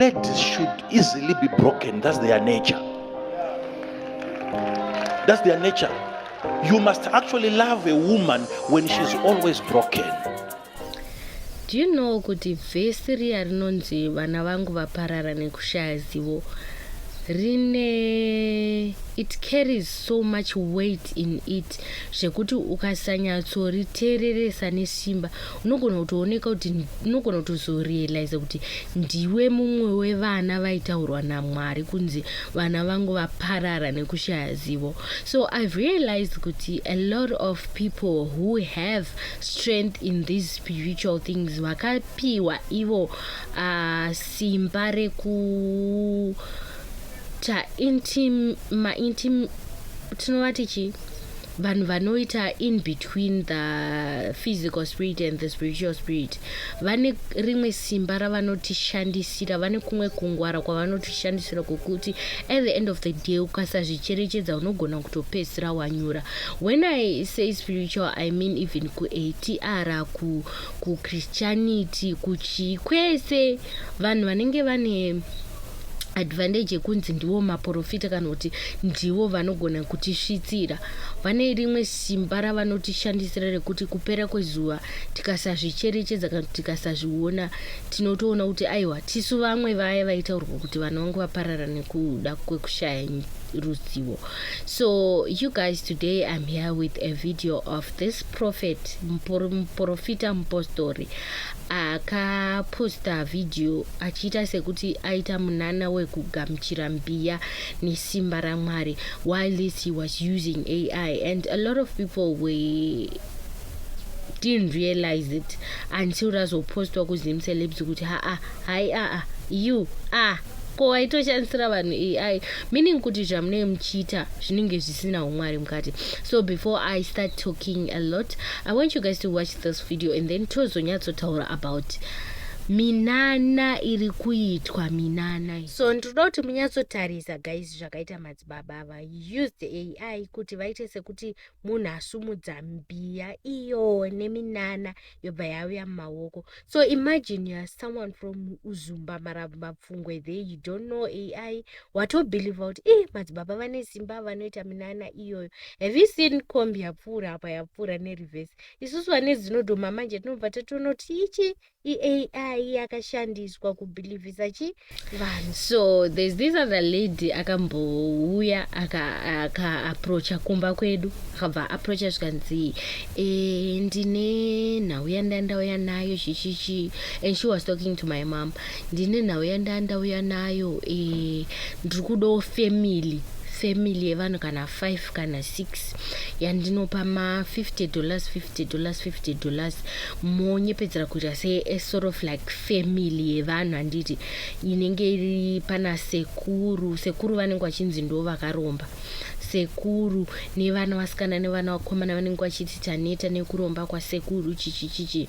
Ladies should easily be broken. That's their nature. That's their nature. You must actually love a woman when she's always broken. Do you know kuti vhesi riya rinonzi vana vangu vaparara nekushaya zivo rine it carries so much weight in it zvekuti ukasanyatsoriteereresa nesimba unogona kutooneka kuti unogona kutozorealiza kuti ndiwe mumwe wevana vaitaurwa namwari kunzi vana vangu vaparara nekushaya zivo so i've realized kuti a lot of people who have strength in these spiritual things vakapiwa ivo uh, simba reku ta intim, ma intim tinovati chii vanhu vanoita in between the physical spirit and the spiritual spirit vane rimwe simba ravanotishandisira vane kumwe kungwara kwavanotishandisira kwokuti at the end of the day ukasazvicherechedza unogona kutopedzisira wanyura when i say spiritual i mean even kuatr kuchristianity kuchii kwese vanhu vanenge vane advantage yekunzi ndivo maporofita kana kuti ndivo vanogona kutisvitsira vane rimwe simba ravanotishandisira rekuti kupera kwezuva tikasazvicherechedza kana kuti tikasazviona tinotoona kuti aiwa tisu vamwe vaya vaitaurwa kuti vana vangu vaparara nekuda kwekushaya ruzivo so you guys today i'm here with a video of this prophet muporofita mupostori akaposta vhidhiyo achiita sekuti aita munana wekugamuchira mbiya nesimba ramwari while this he was using ai and a lot of people were didn't realize it until razopostwa kuzim celebs kuti haa hai aa you a ko waitoshandisira vanhu ai meaning kuti zvamunenge muchiita zvinenge zvisina umwari mukati so before i start talking a lot i want you guys to watch this video and then tozonyatsotaura about minana iri kuitwa minana so ndinoda kuti munyatsotarisa guys zvakaita madzibaba ava use the ai kuti vaite sekuti munhu asumudza mbiya iyo neminana yobva yauya mumaoko so imagine youare someone from uzumba marambo mapfungwe the you don't know ai watobheliva kuti i madzibaba vane simba vanoita minana iyoyo have you seen combi yapfuura apa yapfuura nereverse isusu vane zinodhoma manje tinobva tatoona kuti ichi iai yakashandiswa kubhilivhisa chi vanhu so there's this other lady akambouya akaapproacha aka kumba kwedu akabva approacha zvikanzi e, ndine nhau yandandauya nayo chichichi and she was talking to my mom Ndine nhau yandaa ndauya nayo eh, ndiri kudawo family family yevanhu kana 5 kana 6 yandinopa ma50 dollars 50 dollars 50 dollars monyepedzera kuita sesort of like family yevanhu handiti inenge iri pana sekuru sekuru vanenge vachinzi ndo vakaromba sekuru nevana vasikana nevana vakomana vanenge vachiti taneta nekuromba kwasekuru chichichichi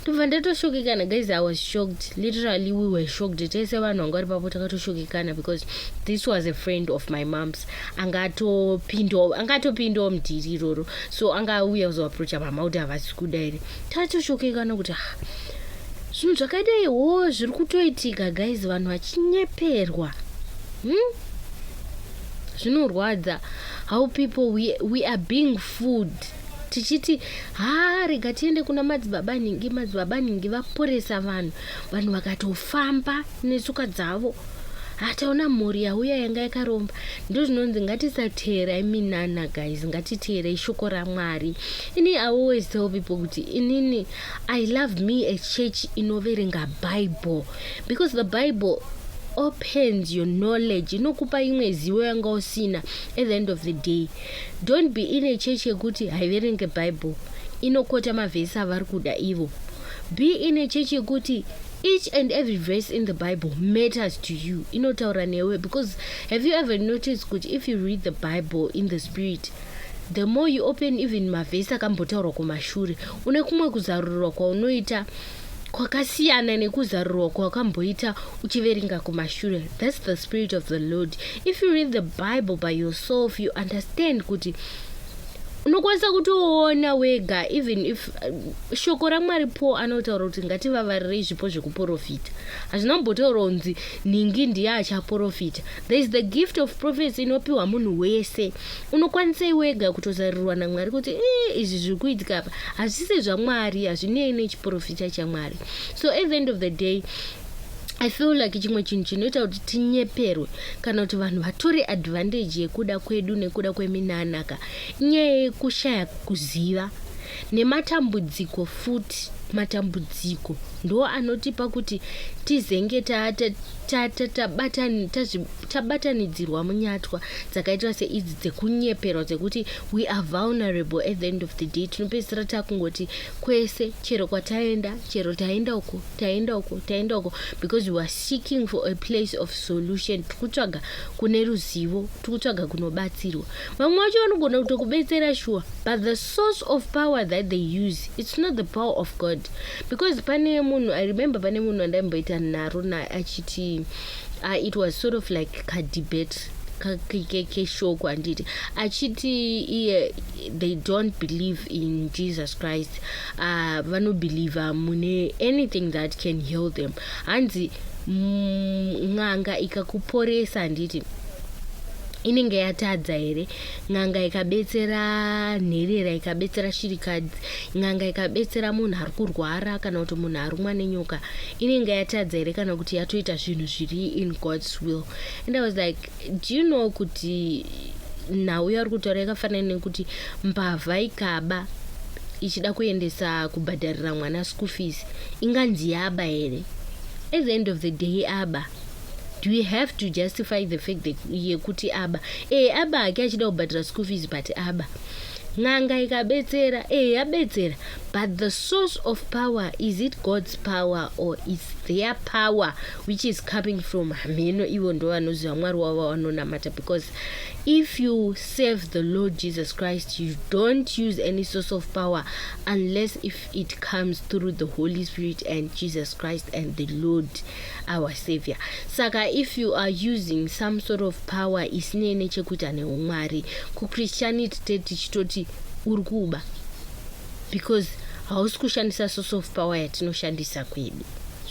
ndobva ndatoshokekana guys i was shocked literally we were shocked tese vanhu vanga vari papo takatoshokekana because this was a friend of my moms anga atopindawo anga atopindawo mudhiri iroro so anga auya kuzoaproacha mama kuti havasi kuda here tatoshokekana kuti ha ah, zvinhu zvakadai wo zviri kutoitika guys vanhu vachinyeperwa hmm? zvinorwadza how people we, we are being food tichiti haa rega tiende kuna madzibaba nhingi madzibaba nhingi vaporesa vanhu vanhu vakatofamba netsuka dzavo hataona mhuri yauya yanga yakaromba ndo zvinonzi ngatisateerai minana guys ngatiteerei shoko ramwari ini i always tell people kuti inini i love me a church inoverenga bible because the bible opens your knowledge inokupa imwe zivo yanga usina at the end of the day Don't be in a church yekuti haiverenge bible inokota mavhesi avari kuda ivo. Be in a church yekuti each and every verse in the bible matters to you inotaura newe because have you ever noticed kuti if you read the bible in the spirit the more you open even mavhesi akambotaurwa kumashure une kumwe kuzarurirwa kwaunoita kwakasiyana nekuzarurirwa kwakamboita uchiverenga kumashure thats the spirit of the lord if you read the bible by yourself you understand kuti unokwanisa kutoona wega even if uh, shoko ramwari po anotaura kuti ngativavarirei zvipo zvekuprofita hazvina kumbotaura kunzi nhingi ndiye achaprofita there is the gift of prophecy inopiwa munhu wese Unokwanisei wega kutozarurirwa naMwari kuti eh, izvi zviri kuitika apa hazvisi zvaMwari, hazvinei nechiporofita chaMwari. So at the end of the day i feel like chimwe chinhu chinoita kuti tinyeperwe kana kuti vanhu vatore advantage yekuda kwedu nekuda kweminanaka inyaya yekushaya kuziva nematambudziko futi matambudziko ndo anotipa kuti tizenge ta, ta, Ta- ta- tabatani- tazvi- tabatanidzirwa munyatwa dzakaitwa seidzi dzekunyeperwa dzekuti we are vulnerable at the end of the day tinopedzisira takungoti kwese chero kwataenda chero taenda uko taenda uko taenda uko because we are seeking for a place of solution tiri kutsvaga kune ruzivo tiri kutsvaga kunobatsirwa vamwe vacho vanogona kutokubetsera shuwa but the source of power that they use it's not the power of god because pane munhu i remember pane munhu andaimboita nharo naye achiti uh, it was sort of like kadebate keshoko handiti achiti iye they don't believe in jesus christ uh, vanobhilivha mune anything that can heal them hanzi mm, n'anga ikakuporesa handiti inenge yatadza here n'anga ikabetsera nherera ikabetsera shirikadzi n'anga ikabetsera munhu ari kurwara kana kuti munhu arumwa nenyoka inenge yatadza here kana kuti yatoita zvinhu zviri in god's will and i was like do you know kuti nhau yauri kutaura yakafanana nekuti mbavha ikaba ichida kuendesa kubhadharira mwana school fees inganzi yaba here at the end of the day aba do we have to justify the fact that yekuti aba ee eh, aba hake achida kubhadhira school fees but aba n'anga ikabetsera ee eh, yabetsera but the source of power is it god's power or is their power which is coming from hameno ivo ndo vanoziva mwari wavo vanonamata because if you serve the lord jesus christ you don't use any source of power unless if it comes through the holy spirit and jesus christ and the lord our savior saka if you are using some sort of power isinei nechekuita neumwari kuchristianity te tichitoti uri kuba because hausi kushandisa source of power yatinoshandisa kwedu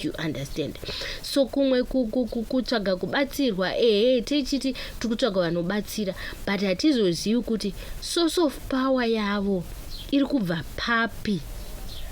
you understand so kumwe kutsvaga kubatsirwa ehe tichiti tiri kutsvaga vanobatsira but hatizozivi kuti Source of power yavo iri kubva papi?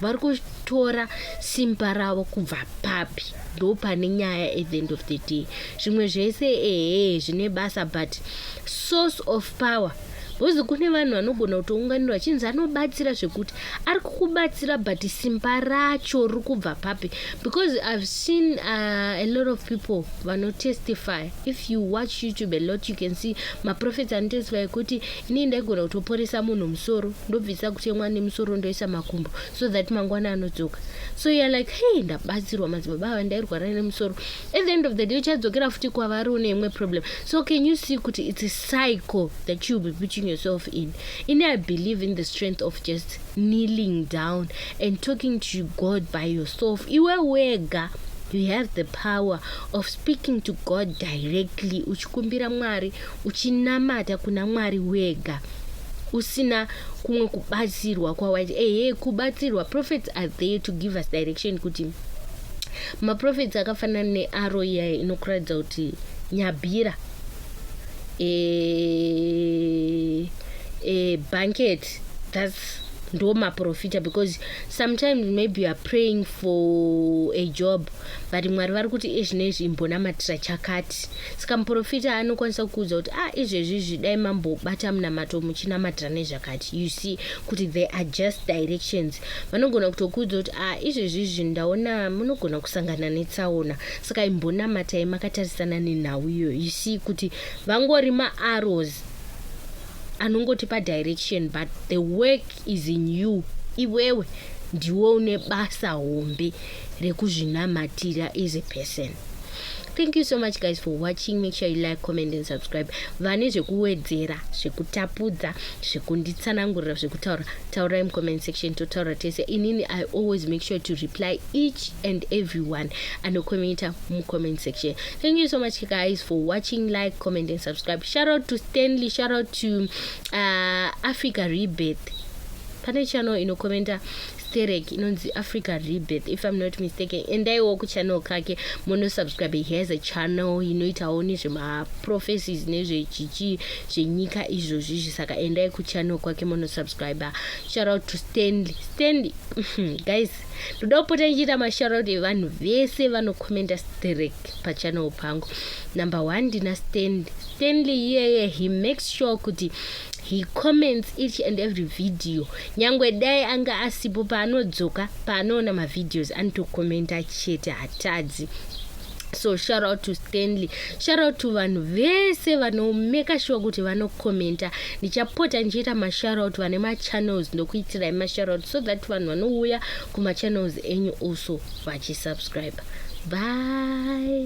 Vari kutora simba ravo kubva papi? Ndo pane nyaya at the end of the day. Zvimwe zvese ehe zvine basa but source of power bhozi kune vanhu vanogona kutounganirwa achinzi anobatsira zvekuti ari kukubatsira but simba racho riri kubva papi because ihave seen uh, a lot of people vanotestifya If you watch YouTube a lot, you can see maprophets anotoiswa ekuti inini ndaigona kutoporesa munhu musoro ndobvisa kutemwa nemusoro ndoisa makumbo so that mangwana anodzoka so you're like hey ndabatsirwa madzibaba ava ndairwara nemusoro at the end of the day uchadzokera futi kwavari une imwe problem so can you see kuti it's a cycle that you'll be putting yourself in ini i believe in the strength of just kneeling down and talking to God by yourself. Iwe wega you have the power of speaking to God directly uchikumbira Mwari uchinamata kuna Mwari wega usina kumwe kubatsirwa kwawaita ehe kubatsirwa prophets are there to give us direction kuti maprofits akafanana nearo iya inokuratidza kuti nyabhira e, e, banket thats ndo maprofita because sometimes maybe youare praying for a job but mwari vari kuti izvi neizvi imbonamatira chakati saka muprofita anokwanisa kukuudza kuti ah izvezvi izvi dai mambobata munamato muchinamatira nezvakati you see kuti they are just directions vanogona kutokuudza kuti ah izvezvi izvi ndaona munogona kusangana netsaona saka imbonamatai makatarisana nenhau iyoyo you see kuti vangori maaros anongotipa direction but the work is in you iwewe ndiwe une basa hombe rekuzvinamatira as a person thank you so much guys for watching make sure you like comment and subscribe vane zvekuwedzera zvekutapudza zvekunditsanangurira zvekutaura taurai mucomment section totaura tese inini i always make sure to reply each and everyone anokomenta mucomment section Thank you so much, guys, for watching, like, comment, and subscribe. Shout out to Stanley. Shout out to uh, Africa Rebirth. Pane channel inokomenta sterek inonzi africa rebirth if i'm not mistaken endaiwo kuchannel kake monosubscribe he has a channel inoitawo nezvemaprophecies nezvechichi zvenyika izvozvi izvi saka endai kuchannel kwake monosubscribe shout out to stanley stanley guys ndoda kupota ndichiita mashoutout evanhu vese vanokomenda strek pachannel pangu number one ndina stanley stanley iyeye he makes sure kuti he comments each and every video nyangwe dai anga asipo paanodzoka paanoona mavhideos anotokomenta chete hatadzi so shout out to stanley shout out to vanhu vese vanomeka shuwa kuti vanokomenta ndichapota ndichiita mashout out vane machannels ndokuitirai mashout out so that vanhu vanouya kumachannels enyu also vachisubscribe bye